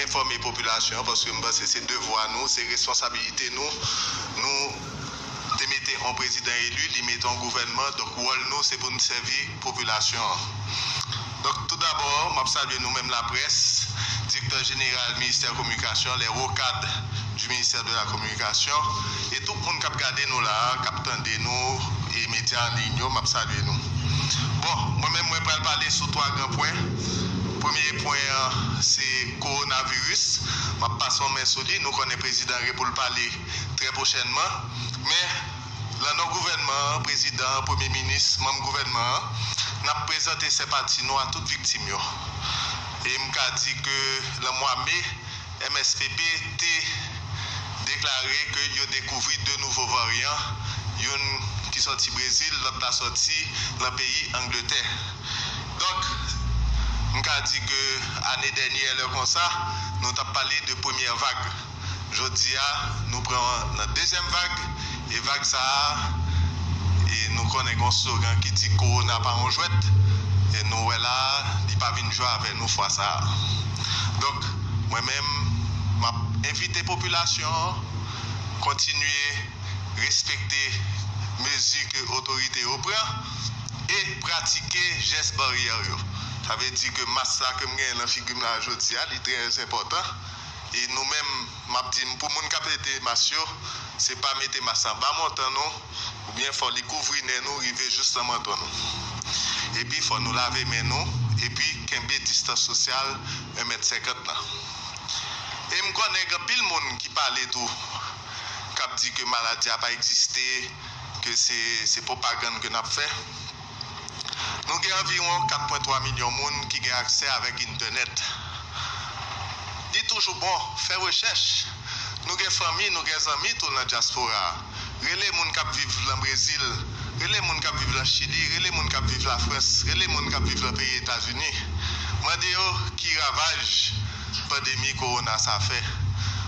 enfòme popilasyon an paske m panse se devwa nou, se responsabilite nou. Nou te mete yon prezidan eli, li mete yon gouvènman, donk wòl nou se pou n sèvi popilasyon an. Donk tou dabò, m ap salye nou menm laprès, direktè jeneral ministè kominikasyon, lè wo kad, du ministère de la communication e tout moun kap gade nou la kap tande nou e media an ligne yo map salye nou bon mwen menm mwen pral pale sou 3 gran pwen premye pwen an se korona virus map pase yon men sou li nou konnen prezidan gen poul pale trè prochènman men lan non gouvènman an prezidan an premye minis manm gouvènman an nap prezante senpati nou a tout viktim yo e mka di ke lan mwa me MSPP te deklare ke yo dekouvri 2 nouvo varyan, youn ki sòti Brezil, lòt la sòti nan peyi Angletè. Donk, m ka di ke ane dènyè lè konsa, nou t ap pale de premyè vag. Jodi a, nou pran nan dezyèm vag. E vag sa a, e nou konnen gen yon slogan ki di Kowona pa yon jwèt, e nou wè la a, li pa vin jwe avè nou fwa sa a. Donk, mwen menm, m ap envite popilasyon an kontinye respekte mezi ke otorite yo pran e pratike jès baryè yo. Sa vle di ke mas la ke m genyen nan figi m la jodi a, li trè enpòtan e nou menm, Map dim pou moun kap ede mas yo se pa mete mas la ba montan nou ou byen fò li kouvri nen nou rive jous nan manton nou epi fò nou lave men nou epi kenbe distans sosyal 1 mèt 50 nan e m kònen gen anpil moun ki pale tou kap di ke maladi a pa egziste ke se se pwopagann ke nap fè. Nou gen anviwon 4.3 milyon moun ki gen aksè avèk Entènèt. Li toujou bon fè rechèch. Nou gen fanmi, nou gen zanmi tou lan dyaspora. Rele moun k ap viv lan Brezil, rele moun k ap viv lan Chili, rele moun k ap viv Lafrans, rele moun k ap viv lan peyi Etazini. Mande yo ki ravaj. pandemi kowona sa fè.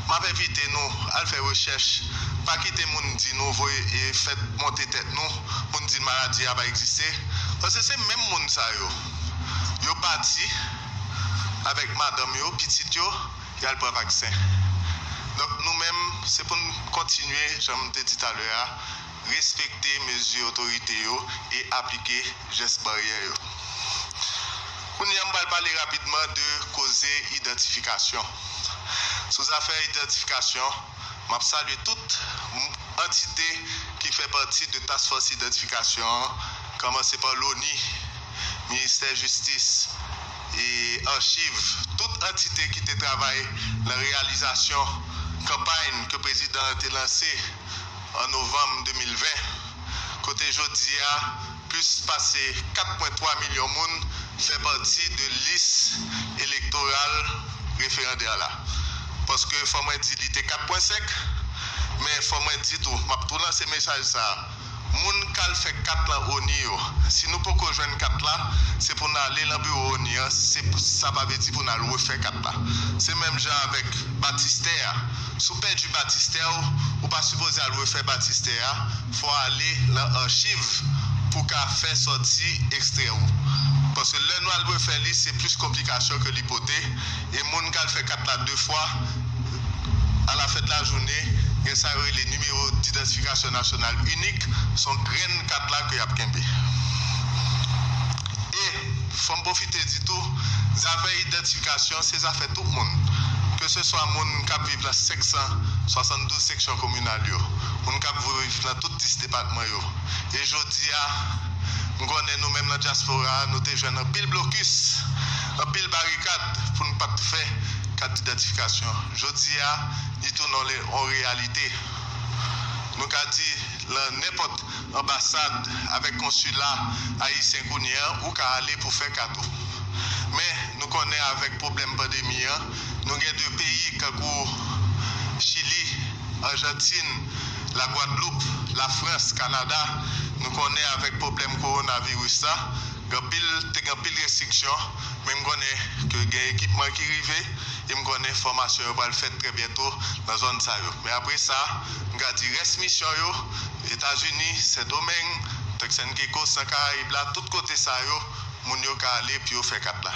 M ap envite nou al fè rechèch, pa kite moun di nou voye e fèt monte tèt nou pou n di maladi a pa egziste, paske se menm moun sa yo, yo pati avèk madanm yo, pitit yo, y al pran vaksen. Donk nou menm, se pou n kontinye, jan m te di talè a, respekte mezi otorite yo e aplike jès baryè yo. Kounye a, m pral pale rapidman de koze idantifikasyon. Sou zafè idantifikasyon, m ap salye tout antite ki fè pati de Task Force Idantifikasyon an, kòmanse pa Loni, Ministè Jistis e Achiv, tout antite ki te travay nan reyalizasyon kanpay ke prezidan an te lanse, an novanm 2020, kote jodi a plis pase 4 pwen 3 milyon moun fè pati de lis elektoral referandè la. Paske fò mwen di li te 4 pwen 5, men fò mwen di tou, m ap tou lanse mesaj sa a, moun k al fè kat lan ONI yo, si nou poko jwenn kat la, se pou n ale lan biwo ONI an, se sa pa vle di pou n al refè kat la. Se menm jan avèk batistè a. Si w pèdi batistè w, ou pa sipoze al refè batistè a, fò w ale nan achiv pou w ka fè sòti ekstrè ou. Paske lè nou al refè li se plis konplikasyon ke li pote, e moun kal fè kat la 2 fwa, alafèt lajounen, gen sa yo rele nimewo didantifikasyon nasyonal inik, son grenn kat la ke y ap kenbe. E. Fò m pwofite di tou, zafè idantifikasyon se zafè tout moun, ke se swa moun k ap viv lan 572 seksyon kominal yo, moun k ap viv lan tout 10 depatman yo. E jodi a, m konnen nou menm lan dyaspora a, nou te jwenn anpil blokis, anpil barikad pou n pa t fè kat didantifikasyon. Jodi a, li tounen on reyalite. Nou ka di lan nenpòt. anbasad avèk konsila ayisyen kounye an ou ka ale pou fè kado. Men nou konnen avèk pwoblèm pandemi an nou gen de peyi kankou chili, anjantin, la gwadloup, la frans, kanada nou konnen avèk pwoblèm kowonaviris la gen anpil te gen anpil restriksyon men m konnen ke gen ekipman ki rive e m konnen fòmasyon yo pral fèt trè byento nan zòn sa yo men apre sa m ka di rès misyon yo Etazini, Sendomeng, Turks and Caicos, nan Karayib la, tout kote sa yo, moun yo ka ale pou yo fè kat la.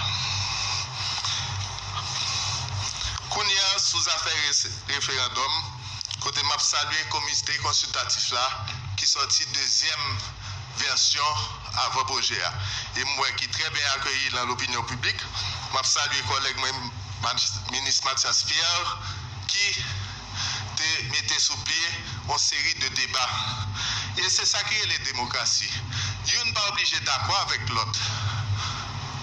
Kounye a, sou zafè referandòm, kote m ap salye komite konsiltatif la ki sòti dezyèm vèsyon avan pwojè a e m wè ki trè byen akeyi lan lopinyon piblik, m ap salye kòlèg mwen, Minis Mathias Pierre, ki. te mete sou pye yon seri de deba. E se sa ki rele demokrasi. Youn pa oblije dakò avèk lòt.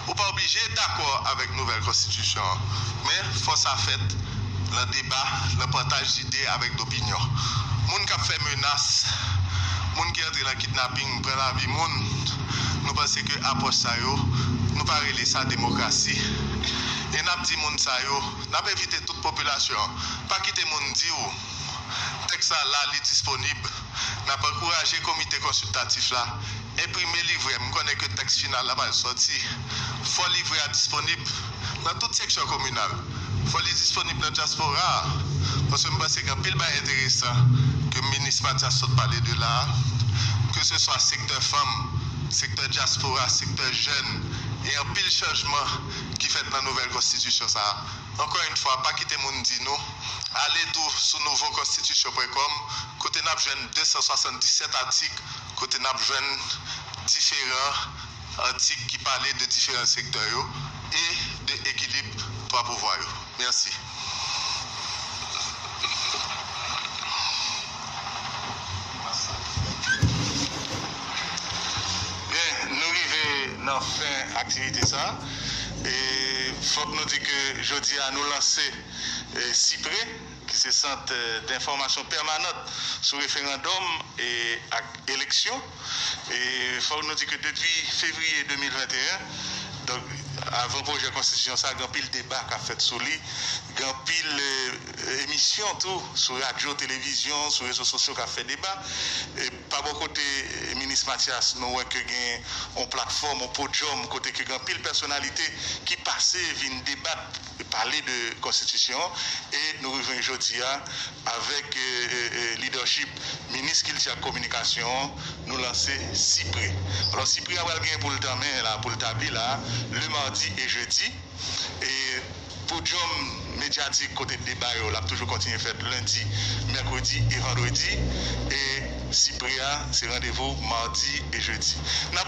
Ou pa oblije dakò avèk nouvèl konstitisyon an. Men, fò sa fèt nan deba, nan pataj lide avèk dopinyon. Moun k ap fè menas, moun ki antre nan kidnaping, pran lavi moun, nou panse ke apwòch sa yo, nou pa rele sa demokrasi. E n ap di moun sa yo. N ap envite tout popilasyon an, pa kite moun di ou tèks sa la, li disponib. N ap ankouraje komite konsiltatif la enprime livrè, m konnen ke tèks final la pral sòti. Fò livrè a disponib nan tout seksyon kominal, fò li disponib nan dyaspora a, paske m panse gen anpil bagay enteresan ke minis Matyas sot pale de la a, keseswa sektè fanm, sektè dyaspora, sektè jèn, e anpil chanjman. ki fèt nan nouvèl konstitisyon sa a. Ankò yn fwa, pa kite moun di nou, ale tou sou nouvokonstitisyon pwen kòm kote n ap jwenn 277 atik, kote n ap jwenn diferan atik ki pale de diferan sektè yo e de ekilib twa pouvwa yo. Mèsi. Byen nou rive nan fen aktivite sa e fòk nou di ke jodi a nou lanse CIPRE ki se sant denfòmasyon pèmanant sou referandòm ak eleksyon. E fòk nou di ke depi fevriye 2021, donk avan pwojè konstitisyon sa, gen anpil deba k ap fèt sou li, gen anpil emisyon tou sou radyo, televizyon, sou rezo sosyo k ap fè deba. Pa bò kote minis Mathias, nou wè ke gen yon platfòm, yon podyòm kote ke gen anpil pèsonalite ki pase vin debat. e pale de konstitisyon an e nou rive jwenn jodi a avèk lidèchip minis kilti ak kominikasyon an nou lanse Sipre. Alò Sipre a pral gen pou l tanmen la, pou l tabli la le madi e jedi e podyòm medyatik kote deba yo l ap toujou kontinye fèt lendi, mèkredi e vandredi e Sipre a se randevou madi e jedi. N ap.